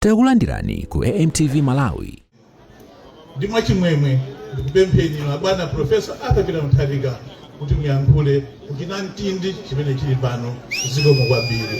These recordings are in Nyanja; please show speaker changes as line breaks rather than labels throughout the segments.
Takulandirani ku AMTV Malawi. Ndi
mwachimwemwe ndikupempheni inu abwana Professor Arthur Peter Mutharika kuti muyankhule ku chinamtindi chimene chili pano zikomo kwambiri.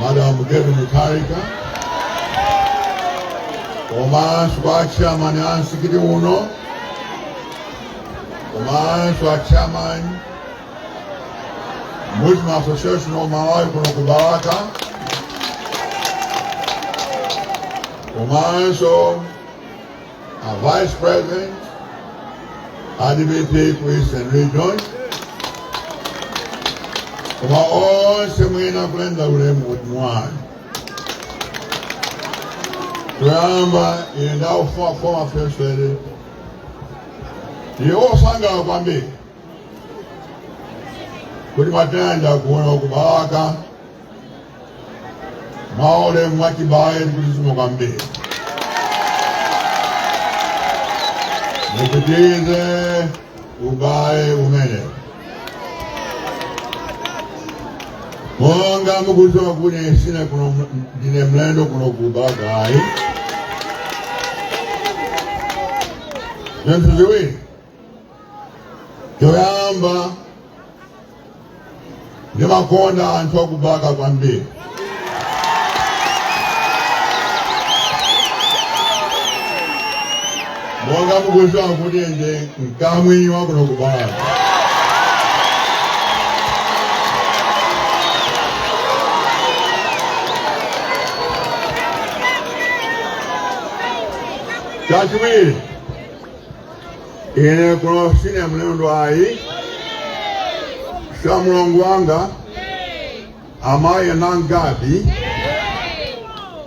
Madam Gertrude Mutharika komanso kwa achairman a msikiti uno komanso achairman Muslim Association of Malawi kuno ku Balaka komanso a Vice President a DPP Eastern Region, koma onse mwina kulenda ulemu kuti mwana choyamba ine ndi a former first lady ndife osangalala kwambiri kuti mwatilandira kuno ku Balaka mwaulemu mwachibale ndikuti zikomo kwambiri mupitirize ubale umene monga mukuziwa kuti sine kuno ndine mlendo kuno ku Balaka ayi zinthu ziwiri choyamba ndimakonda anthu aku Balaka kwambiri monga mukuziwa kuti ndine mkamwini wakuno ku Balaka chachiwiri ine kuno sine mlendo ayi sha mulongo wanga amayi nangadi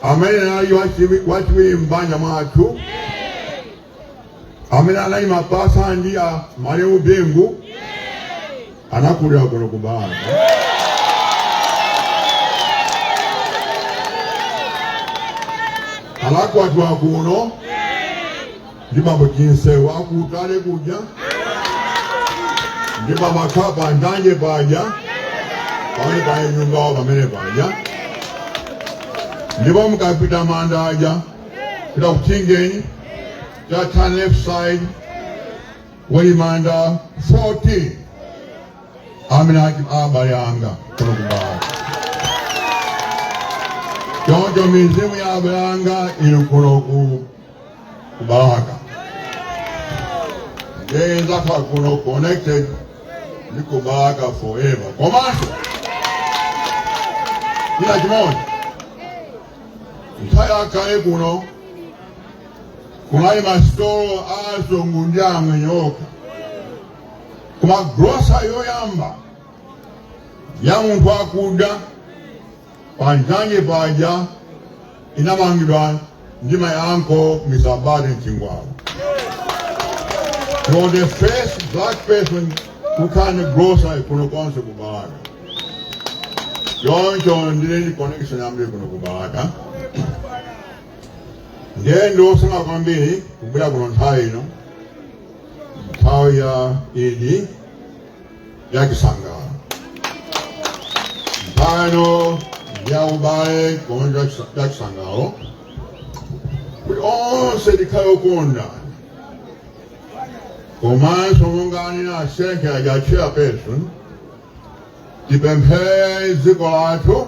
amene anali wachiwiri m'banja mwathu amene anali mapasa ndi a malemu bingu anakulira kuno ku balaka anakwatiwa kuno ndi bambo Chinseu a ku Utale kuja ndi pamakhapa ndanye paja pamene pali nyumba yawo pamene paja ndipo mukapita manda aja pita ku Chingeni turn left side kuli manda 14 amene ali abale anga kuno ku Balaka choncho mizimu ya abale anga ili kuno ku ku balaka genes zanga kuno connected ndi ku balaka forever komanso ina chimodzi nthawi yakale kuno kunali masitolo a azungu ndi amwenye okha koma grosa yoyamba ya munthu wakuda Panjanje paja inamangidwa ndi my uncle Mr. Badi Chingwalu. He was the first black person kukhala ndi grocery kuno konse ku Balaka. Choncho ndili ndi connection yambiri kuno ku Balaka. Ndiye ndiwosangalala kwambiri kubwera kuno nthawi ino nthawi ya idi ya chisangalalo nthawi ino ya ubale komanso ya chisangalalo kuti onse tikhale okondwa komanso monga anena asenke aja chairperson tipemphere dziko lathu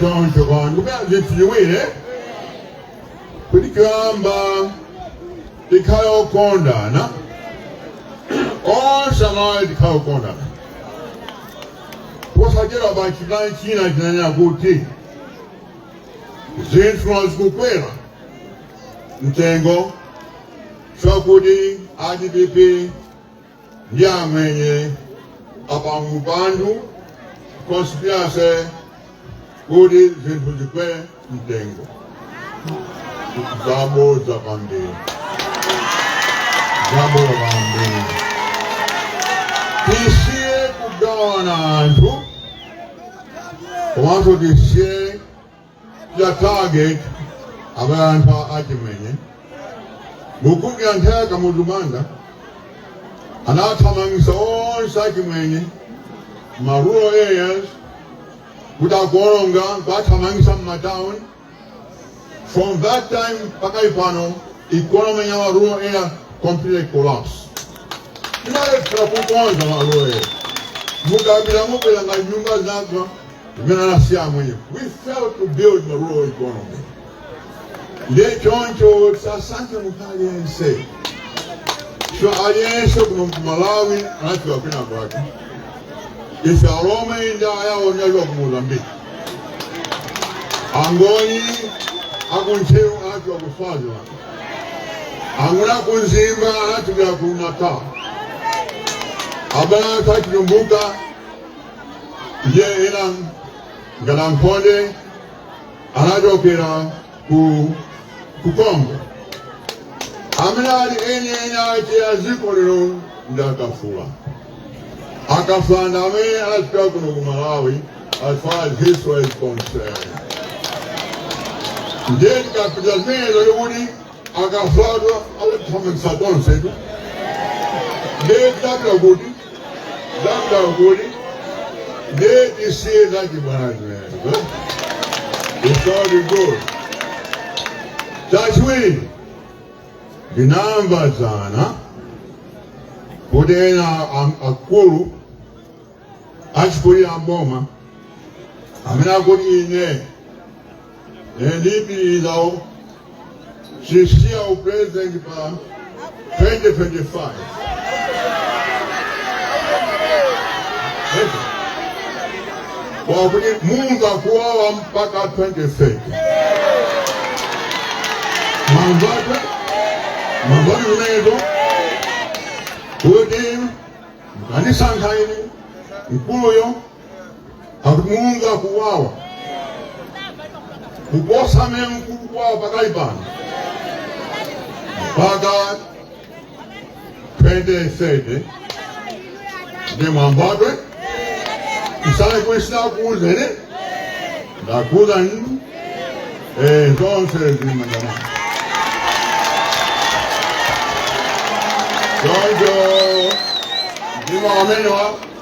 Choncho kwa ndikupempha zinthu ziwiri kuti choyamba tikhale okondana onse amalawi tikhale okondana posachedwapa chipani china chinanena kuti zinthu zikukwera mtengo chakuti a dpp ndi amwenye apanga upandu conspiracy kuti zinthu zikwere mtengo zabodza kwambiri zabodza kwambiri tisiye kugawana anthu komanso tisiye ya target abale athu achimwenye mukumbukira nthawi ya kamuzu banda anathamangisa onse achimwenye ma rural areas kuti akuononga kuwathamangisa mmatown from that time mpaka ipano economy ya ma rural area completely collapse tinalephera kukonza ma rural area mukapita mupeza nyumba zagwa imene anasiya amwenye we failed to build the rural economy ndiye choncho tisasankhe munthu aliyense so aliyense kuno kumalawi anachokera kwina kwake ife alomwe ndi ayawo tinachokera ku mozambique angoni akuntcheu anachokera ku swaziland angoni akumzimba anachokera ku natal abale athu achitumbuka ndiye ena ngati Ankhonde anachokera ku ku congo amene ali eni eni ake a dziko lino ndi akafula akafula ndi amene anapezeka kuno ku malawi as far as history is concerned ndiye tikapita zimenezo likuti akavadwa tonsetu ndiye ndapota nanu kuti ndiye tisiye zachibwana it's all good chachiwiri ndinamva dzana kuti ena am- akulu achikulira mboma amene akuti ine Eh, ndipitirizawo sisiya u president pa 2025 akuti mumva kuwawa mpaka 2030 mwamvatu onenezo kuti mukanisankha ine mkuluyo akuti mumva kuwawa kuposa mmene mukumvera kuwawa pakali pano mpaka 2030 ndiye mwamvatu musanene kuti sinakuuzeni ine ndakuuzani inu eh, zonse zimayamba choncho ndi mawu amenewa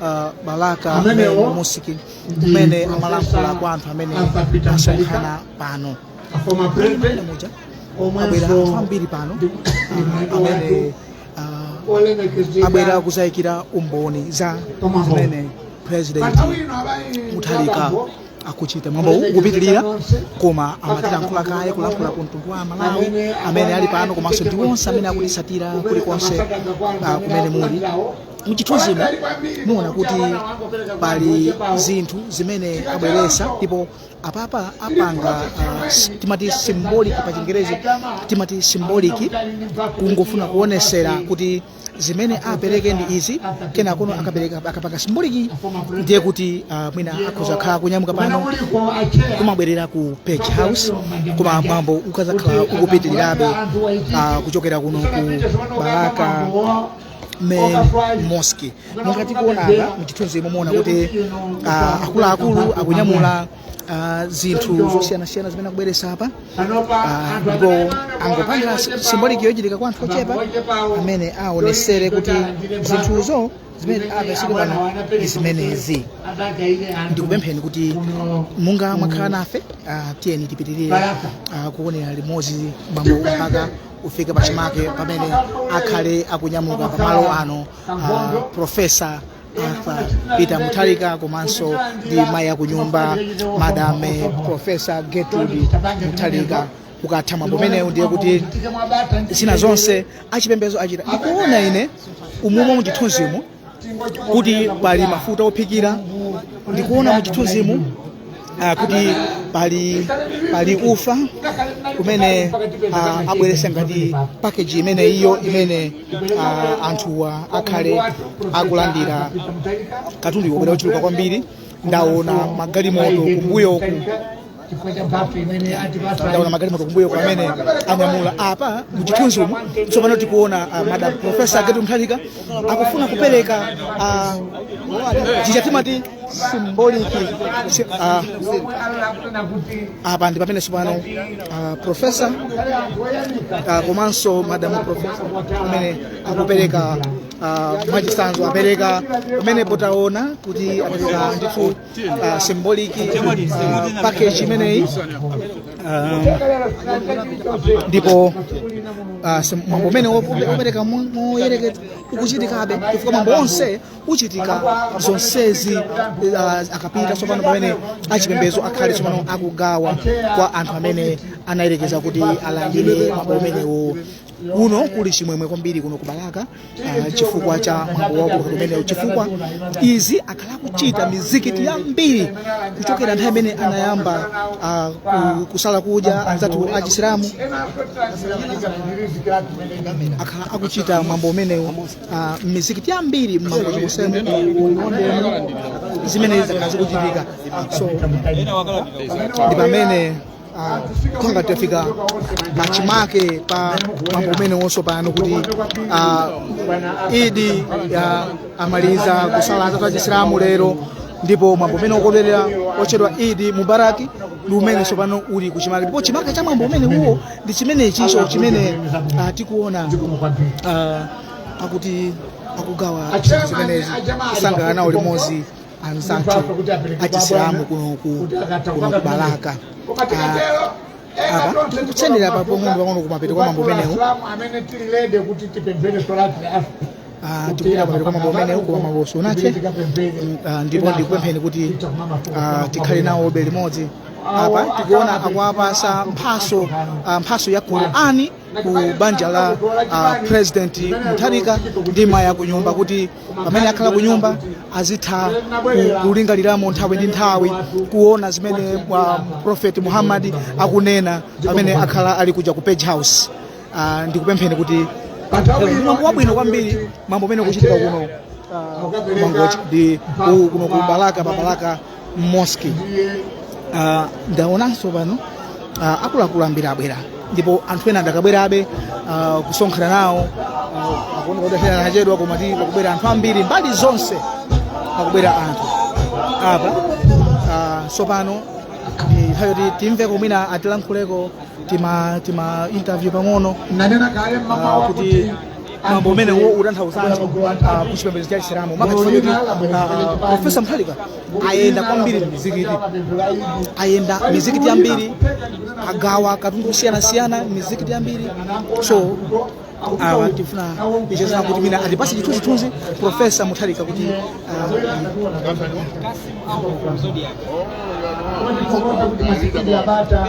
uh, balaka Amenewo Mary musiki ndi mmene Professor amalankhula kwa anthu amene Asapita asonkhana pano a former Mmene president muja abwera anthu omwenso ambiri pano ndi- ndi uh, mlendo amene wathu uh, olemekezeka abwera kuzayikira umboni za Pamaho. zimene president panthawi ino abayi muthalika akuchita mwambo ukupitirira koma amatilankhula kaye kulankhula ku mtundu wa malawi amene ali pano komanso ndi onse amene akutitsatira kulikonse ah, kumene muli muchithunzimu mwaona kuti pali zinthu zimene abweresa ndipo apapa apanga uh, timati symbolic pa chingerezi timati symbolic kungofuna kuonesera kuti zimene apereke ndi izi kena kono akapanga symbolic ndiye kuti uh, mwina akhoza khala kunyamuka pano kumabwerera ku page house koma mwambo ukazakhala ukupitirirabe uh, kuchokera kuno ku balaka main mosque monga tikuona apa mchithunzimu muona kuti ah, akuluakulu akunyamula ah, zinthu zosiyanasiyana zimene akubweresa apa Ah, ndipo angopanga simboliki yochitika kwa anthu ochepa amene aonesere kuti zinthuzo zimene apeseke pano ndi zimenezi ndikupempheni kuti munga mwakhala nafe ah, tiyeni tipitirire ah, kuonera limodzi mwambo mpaka ufike pachimake pamene akhale akunyamuka pamalo ano uh, profesa arthur peter mutharika komanso ndi mayi akunyumba madame profesa gertrude mutharika ukatha mwambo umenewu ndiye kuti zina zonse achipembezo achita ndikuona ine umomo muchithunzimu kuti pali mafuta ophikira ndikuona muchithunzimu ah, kuti pali pali ufa umene ah, abweresa ngati pakeji imene iyo imene ah, anthuwa akhale akulandira katundu wabwera ochuluka kwambiri ndaona magalimoto kumbuyoku chifukwa cha mphatso imene atipasa ndaona magalimoto kumbuyoku amene anyamula apa muchithunzimu tsopano tikuona uh, madam profesa gertrude mutharika akufuna kupereka uh, chija timati symbolic si- uh, apa ndi pamene tsopano uh, profesa uh, komanso madam profesa amene akupereka uh, mwachisanzo apereka pamene potaona kuti apereka ndithu uh, symbolic uh, package imeneyi um, ndipo uh, sim- mwambo umenewu wope- wopereka mo- moyerekeza ukuchitikabe chifukwa mwambo onse uchitika zonsezi uh, akapita tsopano pamene achipembedzo akhale tsopano akugawa kwa anthu amene anayenekera kuti alandire mwambo umenewo kuno kuli chimwemwe kwambiri kuno ku balaka uh, chifukwa cha mwambo waukulu umenewu chifukwa izi akhala akuchita mizikiti yambiri kuchokera nthawi imene anayamba uh, kusala kudya anzathu achisilamu akhala akuchita mwambo umenewu uh, mizikiti yambiri mmangochi konse muzimenezi zakhala zikuchitika so ndi pamene uh, ngati tafika pachimake pa mwambo umenewo tsopano kuti uh, idi ya amaliza kusala anzathu achisilamu lero ndipo mwambo umene wokondwerera otchedwa idi mubaraki ndi umene tsopano uli kuchimake ndipo chimake cha mwambo umenewo ndi chimenecho chimene uh, tikuona uh, pakuti akugawa zimenezi kusangalana limodzi anzathu achisilamu kuno ku balaka apa tikusendera pang'onopang'ono kumapeto kwa mwambo umenewu amene tili ready kuti tipemphere solati Ah, tikupita pamene pamwambo umenewu koma mwambo sunathe Mm, ah, ndipo ndikupempheni kuti ah, tikhale nawobe limodzi apa tikuona akuwapatsa mphatso ah, mphatso ya qurani ku banja la ah, president mutharika ndi mayi akunyumba kuti pamene akhala ku nyumba azitha ku- kulingaliramo nthawi ndi nthawi kuona zimene prophet muhammad akunena pamene akhala ali kuja ku page house Ah, ndikupempheni kuti mwambo wabwino kwambiri mwambo umene ukuchitika kuno ah, ku mangochi ndi ku- kuno ku balaka pa balaka mosque uh, ndaonanso pano uh, akuluakulu ambiri abwera ndipo anthu ena adakabwerabe uh, kusonkhana nawo uh, akuoneka kuti achedwa koma ti akubwera anthu ambiri mbali zonse akubwera anthu apa uh, tsopano ndi nthawi yoti timveko mwina atilankhuleko tima tima interview pang'ono nanena kale mama Ah, kuti wakuti mwambo umenewu utanthauzanji ah, ku chipembedzo cha chisilamu makachifa kuti ah, profesa mutharika ayenda kwambiri mizikiti ayenda mizikiti yambiri agawa katundu wosiyanasiyana mizikiti yambiri so awa tifuna ticheze nawo kuti mwina atipatse chithunzithunzi profesa mutharika kuti ah, Kodi popote kuti
masikiti ya bata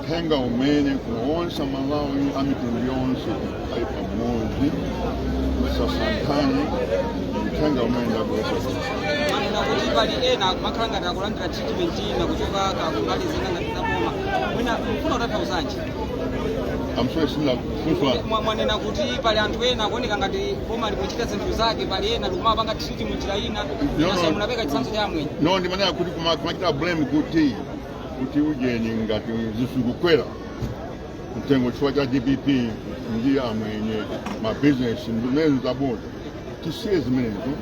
uthenga umene kwa onse amalawi a mitundu yonse ali pamodzi sasankhani uthenga umene ndabwera kuti
pali ena akumakhala ngati akulandira treatment ina kuchoka kumbali zina ngati zaboma mwina mfuna kutanthauzanji
I'm sorry sindinamve funso Mwa-
mwanena kuti pali anthu ena akuoneka ngati boma likuchita zinthu zake pali ena likumapanga treatment njira ina monga munapereka chitsanzo cha amwenye no ndimanena kuti kuma-
kumachita blame kuti kuti ujeni ngati zinthu zikukwera mtengo chifukwa cha dpp ndi amwenye mabizinesi zimene zabodza tisiye zimenezo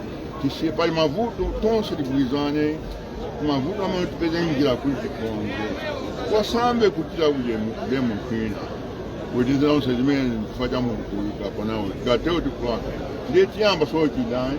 tisiye pali mavuto tonse tigwirizane mavuto amenewo tipeze njira kuti tikonze osamba kutira ujeni blame kwina kuti zonse zimene chifukwa cha munthu kapanawo tikatero tikulakwa ndiye tiyamba za chidani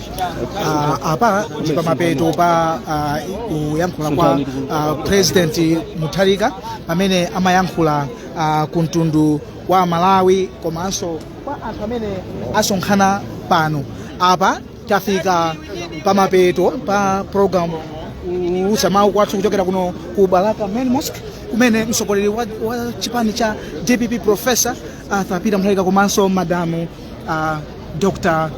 uh, apa ndi pamapeto pa uh, kuyankhula kwa uh, president mutharika pamene amayankhula uh, ku mtundu wa malawi komanso kwa anthu amene asonkhana pano apa tafika pamapeto pa program kuwulutsa mawu kwathu kuchokera kuno ku balaka main mosque kumene mtsogoleri wa, wa chipani cha dpp professor arthur peter mutharika komanso madamu uh, dr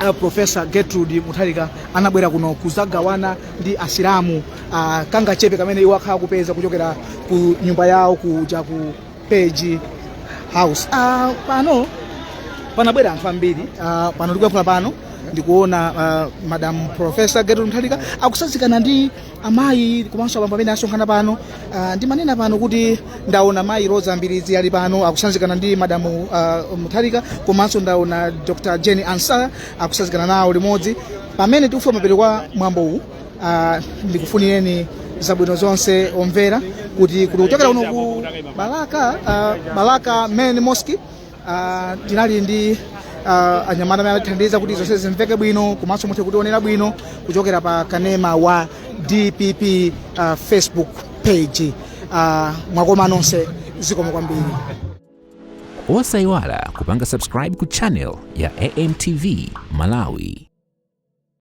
uh, profesa gertrude mutharika anabwera kuno kuzagawana ndi asilamu uh, kangachepe kamene iwo akhala kupeza kuchokera ku nyumba yawo kuja ku Page House uh, pano panabwera anthu ambiri uh, pano tikuyankhula pano ndikuona uh, madam profesa gertrude mutharika akusazikana ndi amayi komanso abambo amene asonkhana pano ah, ndimanena pano kuti ndaona mayi Roza Mbilizi ali pano akusanzikana ndi madamu ah, mutharika komanso ndaona dr Jane Ansah akusanzikana nawo limodzi pamene tikufika kumapeto kwa mwambo uwu ah, ndikufunireni zabwino zonse omvera kuti kuti kuchokera kuno ku balaka ah, balaka main mosque Uh, tinali ndi uh, anyamata amene atithandiza kuti zonse zimveke bwino komanso muthe kutionera bwino kuchokera pa kanema wa dpp uh, facebook page uh, mwakoma nonse zikomo
kwambiri osayiwala kupanga subscribe ku channel ya amtv malawi